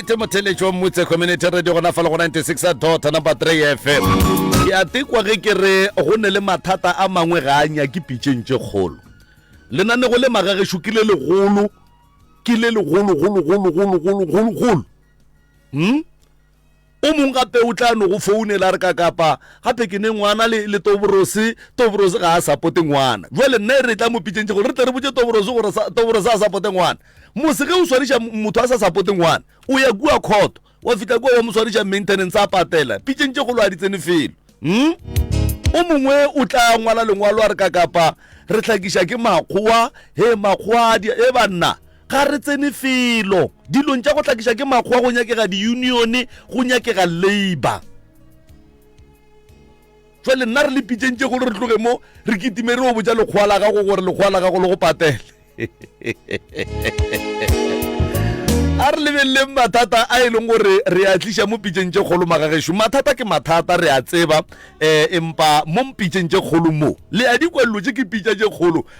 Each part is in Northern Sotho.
right motheletši wa mmutse community radio gona fa le go 96 dota number 3 fm ke a tekwa ge ke re go ne le mathata a mangwe ga a nyake pitšeng tše kgolo lenanego le magagešo ke le legolo ke le legologologologologologolo um O mong gape o tla no go founela a re, Kakapa, gape ke ne ngwana le, le Toborose. Toborose ga a sapote ngwana. Bjale nna e re e tla mo pitšentše gore re tle re botše Toborose gore sa, Toborose a sapote ngwana. Mose ge o swariša motho a sa sapote ngwana, o ya kua khoto, wa fihla kua wa mo swariša maintenance, a patela. Pitšeng tše kgolo ga di tsene felo. Hm? O mongwe o tla ngwala lengwalo a re, Kakapa, re hlakiša ke Makgowa. Hee, Makgowa a dia, hee banna, Ga re tsene felo dilong tša go hlakiša ke makgowa, go nyakega diunione, go nyakega labour. Jwale nna re le pitšeng tše golo re tloge mo re kitime re o botša lekgowa la gago gore lekgowa la gago le go patele. a re lebeleleng mathata a e leng gore re a tliša mo pitšeng tše kgolo magagešo mathata ke mathata re a tseba um empa mo mpitšeng tše kgolo mo le a dikwelelo tše ke pitša tše kgolo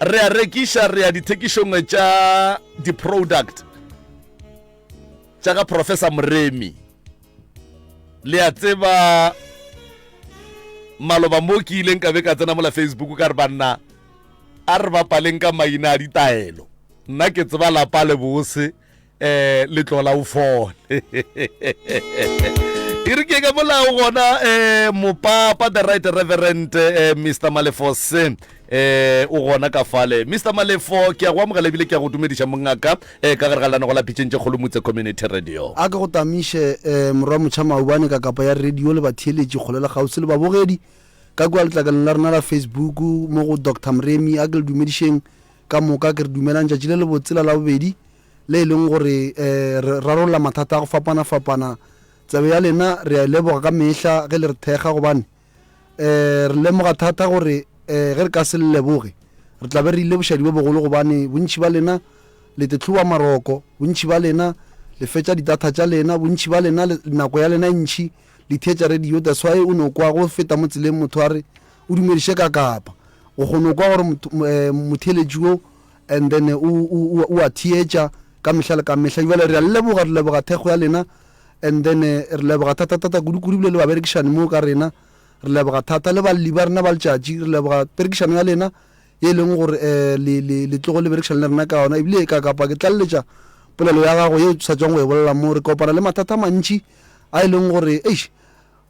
re a rekiša re ya dithekišong tša di-product tša ga professor moremi le a tseba maloba mo ke ileng ka be ka tsena mola facebook ka re banna a re bapaleng ka maina a ditaelo nna ke tseba lapa le bose eh le tlola o fole e re ke ka bolao gona eh mopapa the right reverend eh, mr malefose eh o gona ka fale mr malefo ke a go amogela ebile ke a go dumediša mongaka eh ka gare ga lanago la pitšeng tše kgolomotse community radio a ke go tamiše um morwa motšha maubane ka kapa ya radio le batheeletši kgole le kgauswi le babogedi ka kua letlakaleng la rena la facebook mo go dr mremi a ke le dumedišeng Ka moka ke re dumelang tšatši le lebotse la Labobedi, le e leng gore re rarolla mathata a go fapana-fapana. Tsebe ya lena re a e leboga ka mehla ge le re thekga gobane re lemoga thata gore ge re ka se le leboge re tla be re ile bošadi bo bogolo gobane bontši ba lena le tetlhowa maroko, bontši ba lena le fetša di-data tša lena, bontši ba lena nako ya lena e ntši Di theetša radio that's why o no kwa go feta mo tseleng motho a re o dumediše ka kapa. O kgono kwa gore motheeletši wo and then o o a theetša ka mehla le ka mehla. Jwale re a leboga re leboga thekgo ya lena and then re leboga thata thata kudu kudu bile le baberekišani mo ka rena. Re leboga thata le balli ba rena ba letšatši re leboga perekišano ya lena ye leng gore eh le le le tlogo le berekišana le rena ka yona ebile ka kapa ke tlalletša polelo ya gago ye o sa tswang go e bolela mo re kopana le mathata mantši a e leng gore eish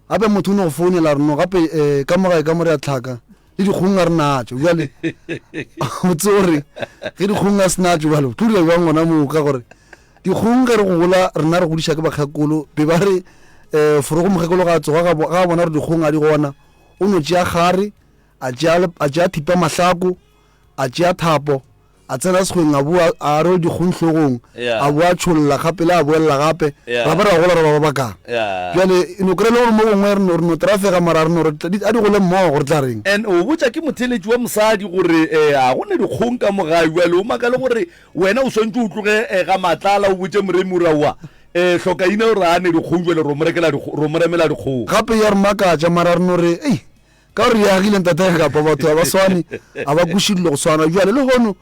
gape motho o ne go founela a re no gape um ka mogae ka mo re a tlhaka le dikgong a re natso jale o tse gore ge dikgong a se natso jale o tlo dira jwang gona moo ka gore dikgong ge re gola rena re godiša ke bakgakolo be ba re um forogo mokgakolo ga a tsoga ga a bona gore dikgong a di gona o no tšea gare a tšea thipa mahlako a tšea thapo A tsena sekgweng, a boa, a arol dikgong hlogong, a boa a tšholla gape le a boelela gape, ra ba ra gola ra ba ba bakang. Bjale, e no kry-a e le gore mo gongwe re no, re no trafega, mara re no re, a di gole mmogo, re tla reng? And o botša ke motheeletši wa mosadi gore, eh, ga go na dikgong ka mo gae, bjale o makale gore wena o swantše o tloge, eh, ga matlala, o botše moremi o re, Aowa, eh, Hlokaina o re a ne dikgong, bjale ro mo rekela dikgo, ro mo remela dikgong. Gape ya re makatša, mara re no re, Ei, Ka gore ya agile ntateng kapa batho ga ba swane a ba kuši dilo go swana jwale le hono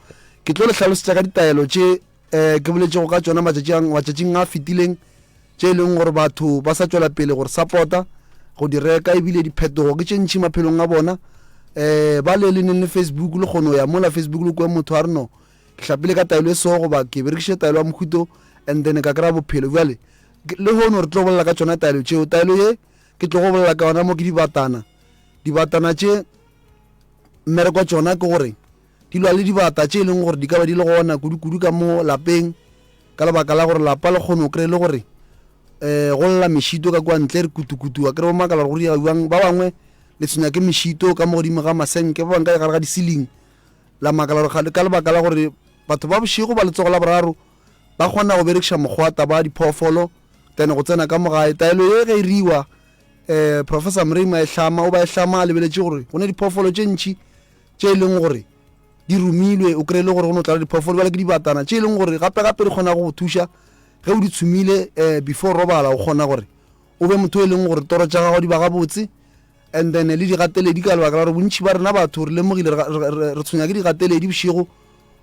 ke tlo le hlalosetša ka ditaelo tše um ke boletšego ka tšona matšatšing a fetileng tše e leng gore batho ba sa tšwela pele gore sapota go di reka ebile diphetogo ke tše ntšhi maphelong a bona um ba le le neng le facebook le kgono ya mola facebook le kwe motho a re no ke hlapile ka taelo e seo goba ke berekiše taelo ya mohuto and then ka kry-a bophelo jale le hono re tlo bolela ka tšona taelo tšeo taelo ye Ke tlo go bolela ka yona mo ke dibatana. Dibatana tše mmereko wa tšona ke gore di lwa le dibata tše e leng gore di ka ba di le gona kudu-kudu ka mo lapeng ka lebaka la gore lapa le kgone o kry le gore um go lla mešito ka kwa ntle re kutu-kutu wa kry bo makala gore go diega jang ba bangwe le tshwenya ke mešito ka mo godimo ga masenke ba bangwe ka gare ga di-ceiling la makala gore ka lebaka la gore batho ba bošego ba letsogo la boraro ba kgona go berekiša mokgwata ba diphoofolo then go tsena ka mogae taelo ye ge e riwa um eh, professor mrima e hlama o ba e hlama a lebeletše gore go ne diphoofolo tše ntšhi tše e leng gore di romilwe o kry-e le gore go ne o tlala diphoofolo bale ke dibatana tše e leng gore gape gape di kgona go go thuša ge o di tshumile um before robala o kgona gore o be motho e leng gore toro tša gago di ba gabotse and then le digateledi ka lebaka la gore bontšhi ba rena batho re lemogile re tshwenya ke digateledi bošego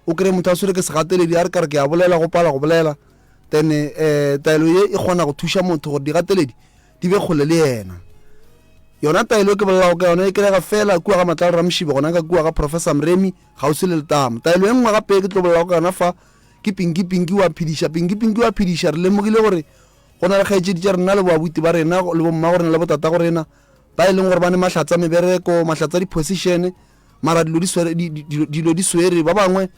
o kry-e motho a swere ke segateledi a re ka re ke a bolela go pala go bolela then um taelo ye e kgona go thuša motho gore digateledi di be kgole le yena yona taelo e ke bolelago ka yona e kerega fela kua ga matlalo ramoshibe gona ka kua ga professor mremi gausi le letamo taelo e nngwe gape e ke tlo bolelago ka yona fa ke pinki pinki wa phediša pinki pinki wa phediša re lemogile gore go na le kgaetšedi tša rena le boabuti ba rena le bomma go rena le botata go rena ba e leng gore ba ne mahlatsa mebereko mahlatsa diposišene mara dilo di swere di- di- dilo dilo di swere ba bangwe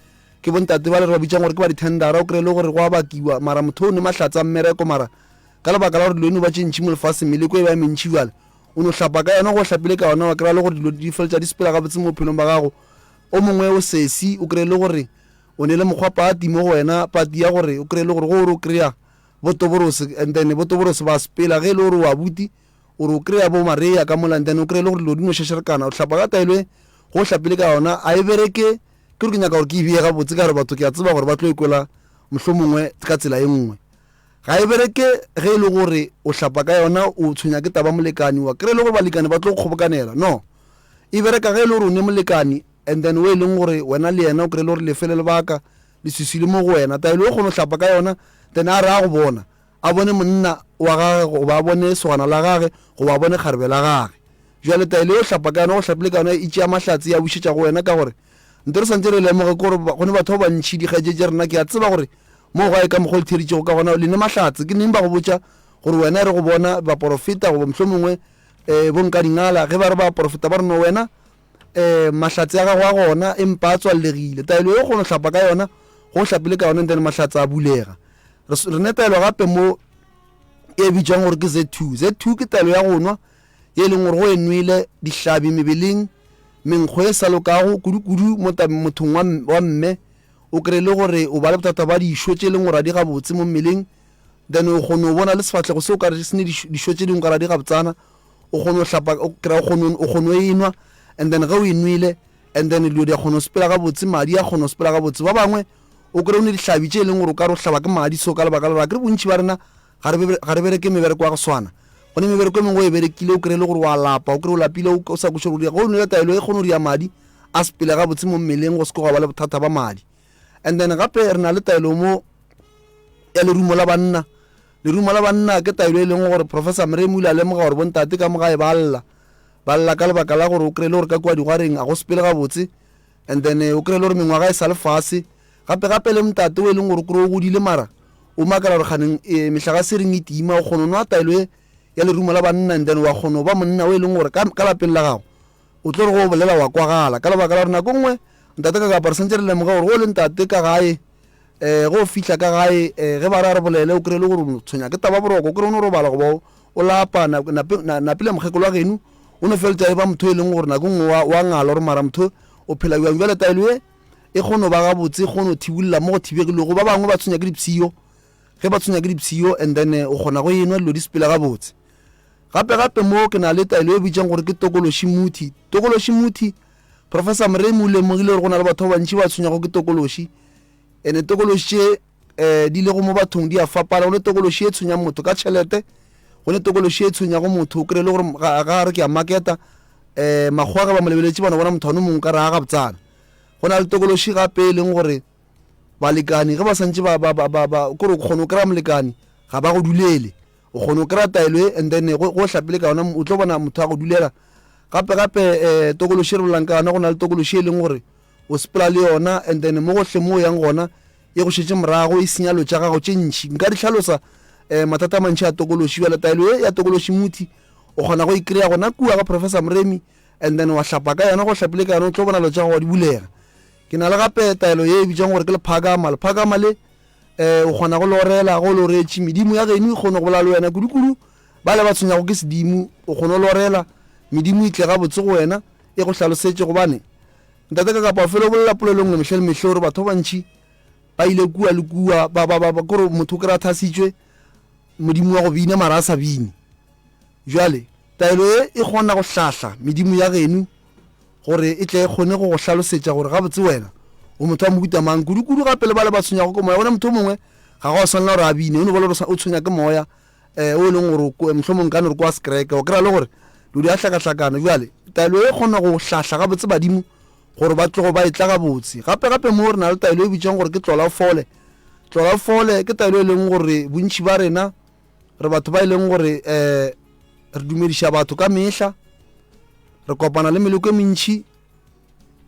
ke bontate ba le re ba bitsang gore ke ba dithendara o kry-e le gore go a bakiwa mara motho o ne mahlatsa mmereko mara ka lebaka la gore dilo eno ba tše ntšhi mo lefaseng meleko e ba e mentšhi bjale o no hlapa ka yona go hlapile ka yona wa kry-a le gore dilo di feletša di sepela gabotse mo bophelong ba gago o mongwe o sesi o kry-e le gore o ne le mokgwa pati mo go wena pati ya gore o kry-e le gore go ore o kry-a botoborose and then botoborose ba sepela ge e le gore o abuti O re o kry-a bo Maria ka mola and then o kry-e le gore dilo di no šašerekana. O hlapa ka taelo e ge o hlapile ka yona a e bereke. Ke gore ke nyaka gore ke e beye gabotse ka gore batho ke a tseba gore ba tlo e kwela mohlomongwe ka tsela e nngwe. Ga e bereke ge e le gore o hlapa ka yona o tshwenya ke taba molekane wa kry-e le gore balekane ba tlo go kgobokanela. No. E bereka ge e le gore o ne molekane and then o e leng gore wena le yena o kry-e le gore le fele lebaka, leswiswi le mo go wena. Taelo e o kgona go hlapa ka yona then a re a go bona a bone monna wa gage goba a bone segwana la gage goba a bone kgarebe la gage. Bjale taelo yeo hlapa ka yona go hlapile ka yona e tšea mahlatse ya bušetša go wena ka gore nte re santše re lemoge gore go ne batho ba bantši dikgaetšetše rena ke a tseba gore moo gae ka mokgwa o le theeditšego ka gona le ne mahlatse ke neng ba go botša gore wena e re go bona baporofeta goba mohlomongwe um eh, bonkadingala ge ba re ba porofeta ba re no wena um mahlatse a gago a gona empa a tswallegile taelo e o kgona go hlapa ka yona go o hlapile ka yona ntene mahlatse a bulega re ne taelo gape mo e bitswang gore ke z two z two ke taelo ya go nwa e leng gore go e nwele dihlabi mebeleng menkgo e sa lokago kudu-kudu mothong wa mme o kry le gore o ba le bothata ba dišo tse e leng gore a di gabotse mo mmeleng then o kgone go bona le sefatlhego se o ka re se ne dišo tse dingwe ka ra di gabtsana o kgone go hlapa o kry o kgone o kgone e nwa and then ge o e nwele and then dilo di a kgona go sepela gabotse madi a kgona go sepela gabotse ba bangwe o kry o ne dihlabi tše e leng gore o ka re o hlaba ke madi so ka lebaka la gore a kere bontšhi ba rena ga re bereke mebereko ya go swana go ne mebereko e mengwe o e berekile o kry e le gore wa lapa o kry o lapile o sa kweše gore go nwele taelo e kgone go dia madi a sepele gabotse mo mmeleng go se ke go ba le bothata ba madi and then gape re na le taelo mo ya lerumo la banna Lerumo la banna ke taelo e leng gore Professor Mrem o ile a lemoga gore bontate ka mo gae ba lla. Ba lla ka lebaka la gore o kry-e le gore ka kua digwareng a go sepele gabotse and then o kry-e le gore mengwaga e sa le fase. Gape gape le montate o e leng gore o kry-e o godile mara o makala gore kganeng e, mehlaga se reng e tima. O kgona o nwa taelo e ya lerumo la banna and then wa kgona o ba monna o e leng gore ka, ka lapeng la gago O tlo re go bolela wa kwagala. Ka lebaka la gore nako nngwe ntate ka kapara sentse re lemoga gore go le ntate ka gae um go fihla ka gae um ge ba re a re bolele o kry le gore tshwenya ke taba boroko o kry o no robala goba o lapa napile mokgekolo wa geno o no feletsa e ba motho e leng gore nako nngwe wa ngala gore mara motho o phela jang jale taelo ye e kgono ba gabotse e kgono thibolela mo go thibegilego ba bangwe ba tshwenya ke dipshio ge ba tshwenya ke dipshio and then eh, o kgona go enwa dilo di sepela gabotse Gape-gape moo ke na le taelo e bitšang gore ke tokološi muthi. Tokološi muthi, Professor Murray mo lemogile gore go na le batho ba bantši ba tshwenyago ke tokološi. Ene tokološi tše um di lego mo bathong di a fapana. Go ne tokološi e tshwenyang motho ka tšhelete, go ne tokološi e tshwenyago motho o kry-e le gore ga a re ke a maketa um makgowa ge ba mo lebeletše bana bona motho one mongwe ka re a gabtsana go na le tokološi gape e leng gore balekane ge ba santse kore o kgone o kry-a molekane ga ba go dulele o kgona go kry-a taelo e and then go o hlapile ka yona o tlo bona motho a go dulela gape gape um tokološi e re bolelang ka yona go na le tokološi e leng gore o sepela le yona and then mo gotlhe mo o yang gona e go šetse morago e senya lo tša gago tše ntšhi nka di tlhalosa um mathata a mantšhi a tokološi jale taelo e ya tokološi muthi o kgona go e kry-a gona kua ga professor moremi and then wa hlapa ka yona go hlapile ka yona o tlo bona lo tša gago wa di bulega ke na le gape taelo ye e bitsang gore ke lephakama lephakama le um o kgona go lorela go loretše medimo ya geno e kgone go bola le wena kudu-kudu ba le ba tshwenyago ke sedimo o kgone go lorela medimo e tle ga botse go wena e go hlalosetše gobane ntate ka kapa felo bolela polelo nngwe mehla le mehla gore batho ba bantšhi ba ile kua le kua kore motho o kry-a thasitswe modimo wa go bina mara a sa bine Bjale, taelo ye e kgona go hlahla medimo ya genu gore e tle e kgone go go hlalosetša gore gabotse wena o motho wa mohuta mang, kudukudu gape le bale ba tshwenywago ke moya. Bona, motho o mongwe ga go a swanela gore a bine, o no ba le gore o tshwenya ke moya eh, o e leng gore o mohlomong ka no re kwa sekereke, o kry-a le gore lo di a hlakahlakana. Bjale, taelo ye e kgona go hlahla gabotse badimo gore ba tlogo ba etla gabotse. Gape gape mo re na le taelo e bitšwang gore ke tlola o fole. Tlola o fole ke taelo e leng gore bontši ba rena re batho ba e leng gore um re dumediša batho ka mehla re kopana le meleko e mentšhi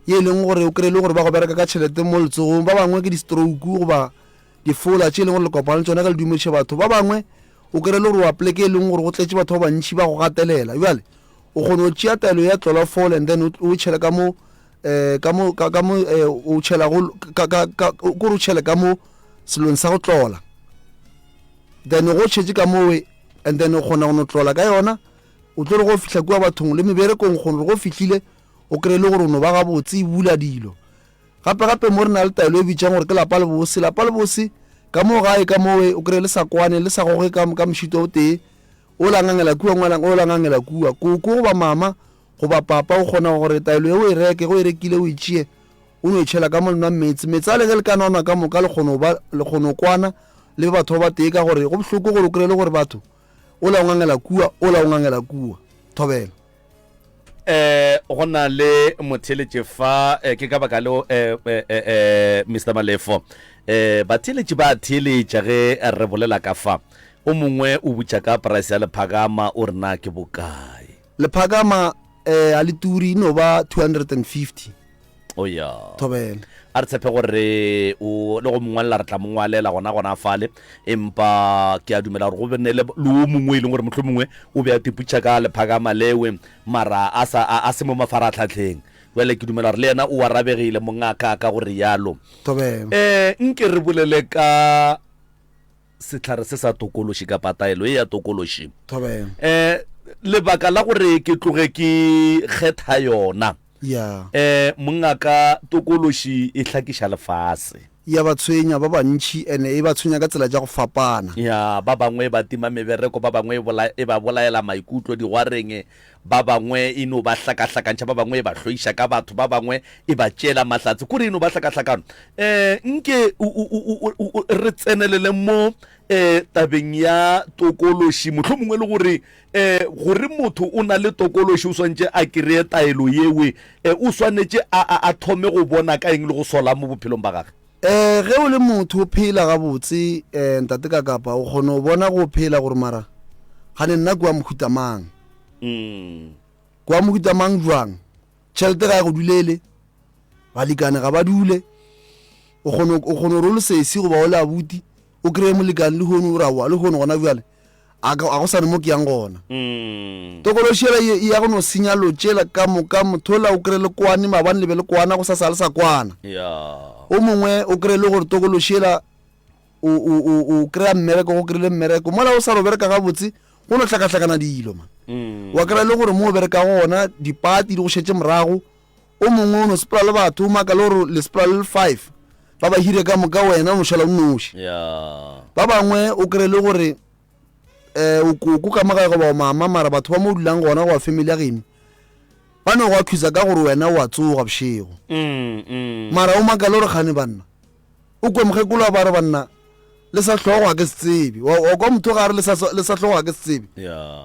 ye e leng gore o kry-e le gore ba go bereka ka tšhelete mo letsogong ba bangwe ke di-stroke goba difola tše e leng gore le kopana le tsone ka le dumediše batho ba bangwe o kry-e le gore wa pleke e leng gore go tletse batho ba bantšhi ba go gatelela jale o kgona go tšea taelo ya tlola fole and then o tšhele ka mo um ka mo ka mo um o tšhela kore o tšhele ka mo selong sa go tlola then go tšhetše ka mowe and then o kgona go no tlola ka yona o tlo re go fihla kua bathong le meberekong kgone go fihlile o kry le gore o no ba gabotse e bula dilo gape gape mo re na le taelo e bitšang gore ke lapa le bose lapa le bose ka moo gae ka mowe o kry le sa kwane le sa goge ka mošito o tee o langangela kua ngwalang o langangela kua koko goba mama goba papa o kgona gore taelo e o e reke go e rekile o e tšee O no e tšhela ka mo le nwang meetse. Meetse ale ge le ka nwanwa ka moka le kgono ba le kgono kwana le batho ba batee ka gore go bohloko gore o kry le gore batho o la o ngangela kua o la o ngangela kua thobela eh go na le motheletše fa eh, ke ka baka leo eh, eh, eh, eh mr malefo eh batheletše ba theletša ge re bolela ka fa o mongwe o butša ka price ya lephakama o rena ke bokae lephakama eh a le turi no ba 250 o ya thobele a re tshepe gore re o le go mongwalela re tla mongwalela gona gona fale empa ke a dumela gore go bene le le o mongwe e leng gore motlho mongwe o be a tiputša ka lephakama lewe mara a sa a, a se mo mafaratlhatlheng bjale ke dumela gore le yena o arabegile mongaka ka gore yalo thobele um nke re bolele ka sehlare se sa tokološi kapa taelo ye ya tokološi. Thobela. Eh, lebaka la gore ke tloge ke kgetha yona. Ya. Eh, mongaka tokološi e hlakiša lefase. Ya ba tshwenya ba bantši ene e ba tshwenya ka tsela tša go fapana. Ya, ba bangwe ba tima mebereko, ba bangwe e bola, e ba bolaela maikutlo, digwareng Ba bangwe e no ba hlakahlakantšha, ba bangwe e ba hloiša ka batho, ba bangwe e ba tšeela mahlatse. Kore e no ba hlakahlakano. Um nke re tsenelele mo um tabeng ya tokološi, mohlomongwe e le gore um gore motho o na le tokološi o swantše a kry-e taelo yeo, um o swanetše a thome go bona ka eng le go sola mo bophelong ba gage? Um ge o le motho o phela gabotse, um Ntate Kakapa, o kgona go bona go phela gore mara kgane nna ke wa mohuta mang. Mm. Kwa mohuta mang jwang? Tšhelete ga e go dulele, balikane ga ba dule. O kgone o kgone gore o le sesi goba o le abuti o kry-e molekane le hono o ra wa le hono gona bjale a ka- a go sane mo ke yang gona Mm. tokološela ye e ya go no senya lo tšela ka moka mothola o kry-e le kwane mabane le be le kwana go sa sa le sa kwana Yeah. o mongwe o kry-e le gore tokološela o, o, o, o kry-a mmereko go kry-ile mmereko mola o sa lo bereka gabotse go no hlakahlakana dilo man mm. wa kry-a le gore mo o bereka go gona dipati di go šetse morago o mongwe o no sepela le batho o maka le gore le sepela le le five ba ba hire ka moka wena o no šala o noši yeah. ba bangwe o kry-e le gore um o ko ka magae goba o mama mara batho ba mo o dulang gona goba family ya geno ba ne go a thusa ka gore wena o a tsoga bošego mm, mm. mara o maka le gore kgane banna o kwe mokgekolo a ba re banna le sa tlhogo ga ke se tsebe wa kwa motho ga re le sa tlhogo ga ke se tsebe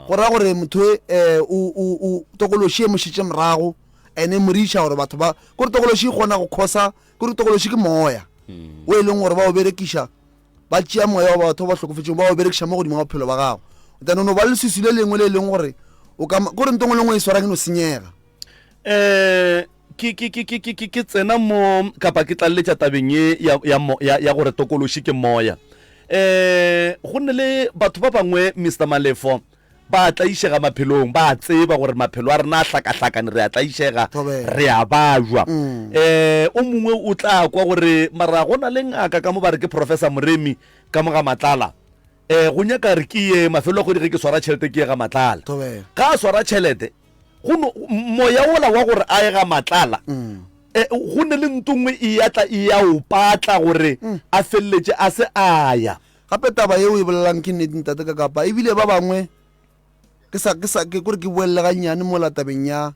go raya gore motho um tokološi e mošitše morago ene moriša gore batho ba kore tokološi e kgona go khosa kore tokološi ke moya hmm. o e leng gore ba o berekiša ba tšea moya wa batho ba ba hlokofetseng ba o berekiša mo godimo ga bophelo ba gago then o no ba leswiswi le lengwe le e leng gore o ka kore ntong e lengwe e swarang e no senyega eh ke ke ke ke ke ke tsena mo kapa ke tlaleletša tabeng ye ya ya ya, ya gore tokološi ke moya eh go nne le batho ba bangwe Mr Malefo ba tlaišega maphelong ba tseba gore maphelo a rena a hlakahlakane re a tlaišega re a bajwa mm. eh o mongwe o tla kwa gore mara go na le ngaka ka mo ba re ke professor moremi ka mo ga matlala Ee, go nyaka re ke ye mafelo a kgwedi ge ke swara tšhelete ke ye ga matlala. Thobela. Ga a swara tšhelete, go no moya wola wa gore a ye ga matlala Mm. e, go ne le ntongwe e ya tla e ya o patla gore Mm. a feleletše a se a ya. Gape taba yeo e bolelang ke nnete ntate ka kapa ebile ba bangwe ke sa ke sa ke kore ke boelele gannyane mo la tabeng ya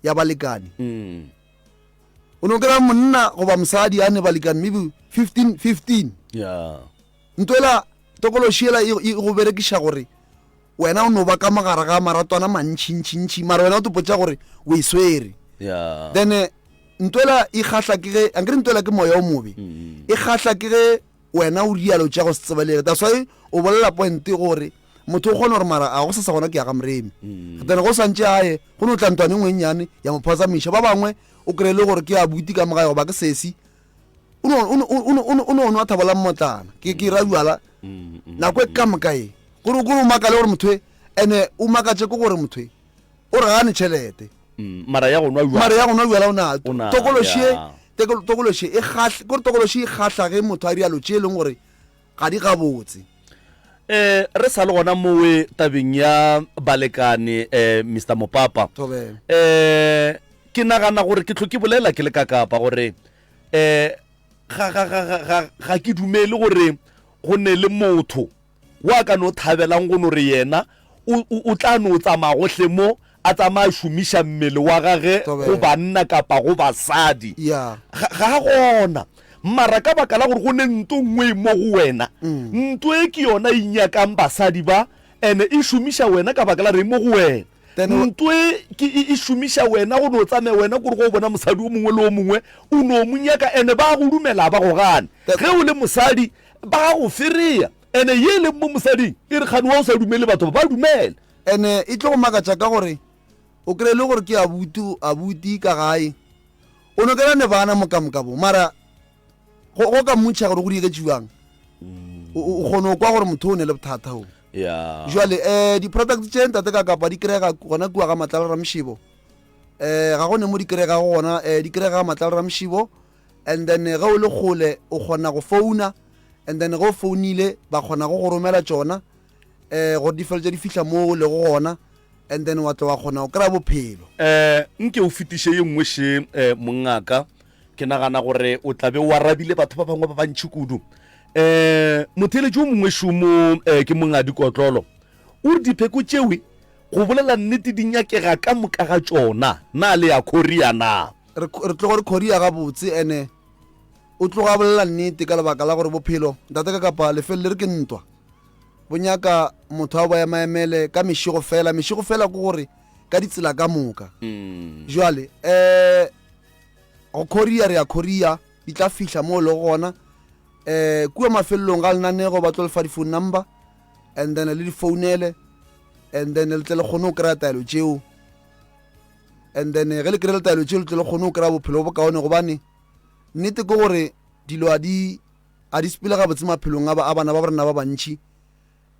ya balekane Mm. o no kry-a monna goba mosadi a ne balekane maybe 15 15 Yeah. Ntwela tokološi yela e, e go berekiša gore wena o no ba ka mogare ga maratwana mantšhintšhintšhi mara wena o topotša gore o e swere yeah. then eh, ntwela e kgahla ke ge ankere ntwela ke moya o mobe mm. e kgahla ke ge wena o rialo tša go se tsebelele that's why o bolela pointe gore motho o kgona gore mara a go sesa gona ke ya ga moremi mm. then go santse aye go ne o tla ntwane ngwennyane ya mo phatsamiša ba bangwe o kry-e le gore ke a buti ka mogae goba ke sesi o no- o no- o no- o no- o no nwa thabo la mmotlana ke ke ra jala Mm, mm, nako e ka moka e gore gore o makale gore motho e ene o makatse ko gore motho e o re gane tšhelete mm. mara ya go nwa jwala. mare ya gona jala o na O na- tokološie ya. tokološie e gahle gore tokološie e gahlage motho a rialo tše e leng gore ga di gabotse. E, re sa le gona mowe tabeng ya balekane, e, Mister Mopapa, Thobela. e, ke nagana gore ke tlho ke bolela ke le ka kapa gore e, ga, ga, ga, ga, ga, ga ke dumele gore go ne le motho wa ka no thabelang go no re yena o, o, o tla no tsamaya gohle mo A tsamaya a šomiša mmele wa gage go banna kapa go basadi. Ga a gona. Mara ka baka la gore go ne nto nngwe e mo go wena, nto e ke yona e nyakang basadi ba, ene e šomiša wena ka baka la gore e mo go wena. Nto e ke e šomiša wena go no tsamaya wena kore go bona mosadi o mongwe le o mongwe o no mo nyaka, ene ba go lumela ba go gane. Ge o le mosadi ba go fereya, ene ye e leng mo mosading e re kgane wa o sa lumele batho ba ba lumele. Ene e tlo go makatša ka gore o kry-e le gore ke abutu, abuti ka gae, o no kena ne bana mokamoka bo, mara go go ka mmutšha gore go dieketše bjang o o kgone go kwa gore motho o ne le bothata o ya jale um di-product tše ntate ka kapa di kry-ega gona kua ga matlala ramšebo um ga go ne mo di kry-ega go gona um di kry-ega ga matlala ramšebo and then eh, ge o le kgole o kgona go founa and then ge o founile ba kgona go go romela tšona um gore di felo tše di fihla mo o lego gona and then wa tlo wa kgona go kry-a bophelo. Um nke o fetiše ye nngwe še um mongaka, ke nagana gore o tla be o arabile batho ba bangwe ba bantšhi kudu. Um eh, motheeletši o mongwe šomo um eh, ke mongadi kotlolo o re dipheko tšewe go bolela nnete di nyakega ka moka ga tšona na le ya korea na re tlogo re korea gabotse ene o tloga bolela nnete ka lebaka la gore bophelo ntate ka kapa lefelo le re ke ntwa bo nyaka motho a bo emaemele ka mešego fela mešego fela ke gore ka ditsela ka moka mm. jale um go korea re ya korea di tla fihla mo e le gona um kua mafelelong ga lenanego ba tlo lefa di-phone number and then le difounele and then le tle le kgone go kry-a taelo tšeo and then ge le kry-e le taelo tšeo le tle le kgone go kry-a bophelo bo bokaone gobane nnete ke gore dilo a di Ga di sepele gabotse maphelong a bana ba rena ba bantši,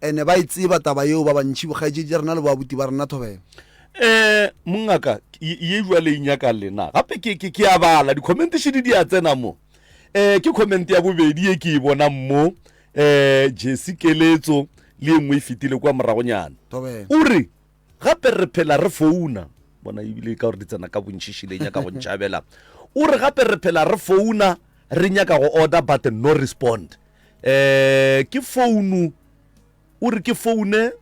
and ba e tseba taba yeo ba bantši, bokgaetšedi ja rena le boabuti ba rena. Thobela. Um mongaka ye jwale e nyaka le na gape ke ke ke a bala di comment shidi di a tsena mo eh ke comment ya bobedi e ke e bonang mo eh Jesse keletso le engwe e fitile kwa moragonyana o re Gape re phela re founa. Bona ebile ka gore di tsena ka bontšiši le nyaka go ntšhabela. O re gape re phela re founa re nyaka go order but no respond. Eh ke founu o re ke foune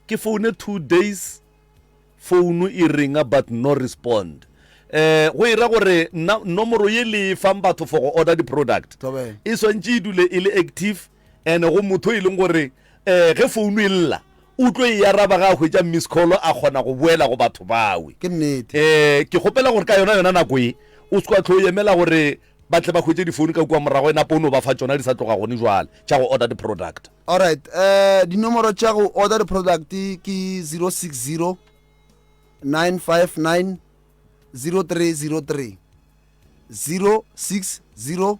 ke foune two days founu e ringa but no respond. Eh go ira gore nna nomoro ye le e fang batho for go order di-product e swantše e dule e le active. Ene go motho e leng gore um ge founu e lla o tlo e araba ga a hwetša miss call a kgona go boela go batho bawe. Ke nnete. Um ke kgopela gore ka yona yona nako e o se kwa tlho o emela gore ba tle ba hwetše difounu ka kua morago enape o no ba fa tšona di sa tloga gone jwale tša go order di-product. Alright, um dinomoro tša go order di-product ke 060 959 0303 060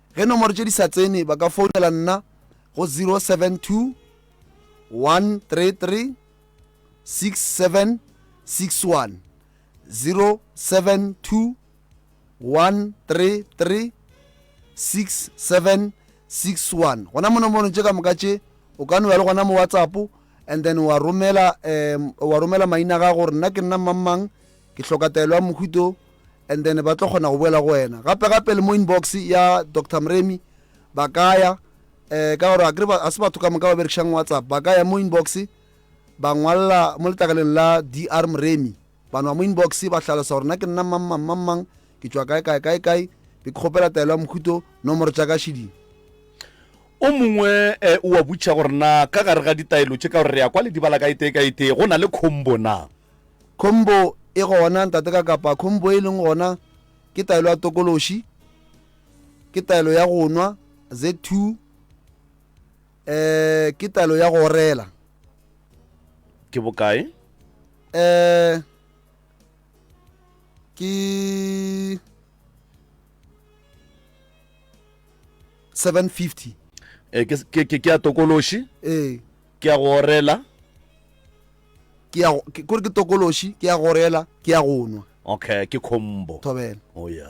Ge nomoro tše di sa tsene ba ka founela nna go 072 133 6761 072 133 6761 gona mo nomorong tše ka moka tše o ka no ya le gona mo whatsapp and then wa romela um wa romela maina ga gore nna ke nna mmangmang ke hloka taelo ya mohuto and then ba tlo kgona go boela go wena gape gape le mo inbox ya dr mremi ba kaya um eh, ka gore a se batho ka moka ba berekisang whatsapp ba kaya mo inbox ba ngwalela mo letlakaleng la dr mremi bano ba mo inbox ba tlhalosa gore na ke nna mang mang mang mang ke tswa kae kae kae kae be ke kgopela taelo ya mohuto nomoro tša ka šeding o mongwe um o a butšha gore na ka gare ga ditaelo tše ka gore re ya kwa le dibala ka etee ka etee go na le khombo na Khombo e gona, Ntate ka kapa khombo e leng gona ke taelo ya tokološi, ke taelo ya go nwa, Z2, eh, ke taelo ya go orela. Ke bokae? Eh, ke 750. Eh, ke, ke, ke, ke ya tokološi, Eh, ke ya go orela, ke ya go- ke- kore ke tokološi ke ya gorela ke ya go nwa okay ke khombo thobela o ya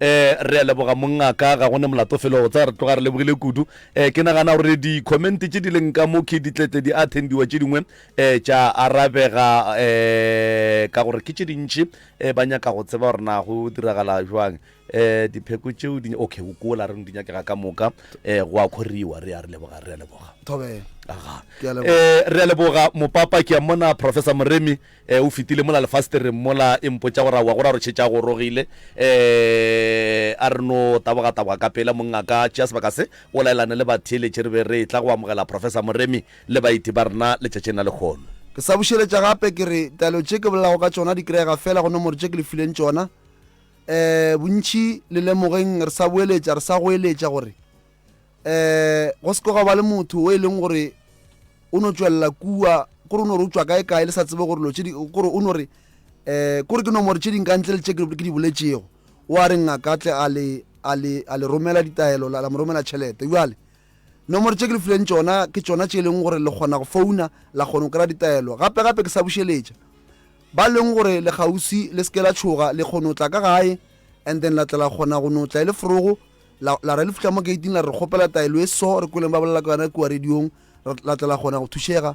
um re a leboga mongaka ga go ne molato felo go tsaya re tloga re lebogile kudu um ke nagana gore di-comment tse di leng ka mo ke ditletle di attendiwa tše dingwe um tša arabega um ka gore ke tše dintšhi um ba nyaka go tseba gore na go diragala jwang um dipheko tšeo di okay o kola reng di nyakega ka moka um go a kgoriwa re a re leboga re a leboga thobela aga Ke a leboga. Eh, re a leboga mopapa ke a mona professor moremi eh, o fetile mola lefastereng mola e mpotša gore wa go ra rošhetša go rogile eh, a re no tabogataboga ka pela monna ka tšea sebaka se o laelane le batheeletše re be re tla go amogela professor moremi le baeti ba rena letšatšing la lekgono ke sa bušeletša gape ke re taelo tše ke bolelago ka tšona di kry-ega fela go nomoro tše ke le fileng tšona Ee, bontši le lemogeng re sa boeletša, re sa goeletša gore ee go se ke gwa ba le motho o e leng gore o no tšwelela kua kore o no re o tšwa kae kae le sa tsebe gore lo tšedi kore o no re um kore ke nomore tše dingka ntle le tše ke di boletšego o a re ngaka tle a le romela ditaelo la mo romela tšhelete bjale Nomoro tše ke le fileng tšona ke tšona tše e leng gore le kgona go founa la kgona go kry-a ditaelo gape gape ke sa bušeletša ba leng gore le gausi le seke la tšhoga le kgone go tla ka gae and then la tla la kgona go no tla e le forogo la la re le fitlha mo gating la re kgopela taelo e so re kweleng ba bolela ka yona kua radiong ra- la tla la kgona go thušega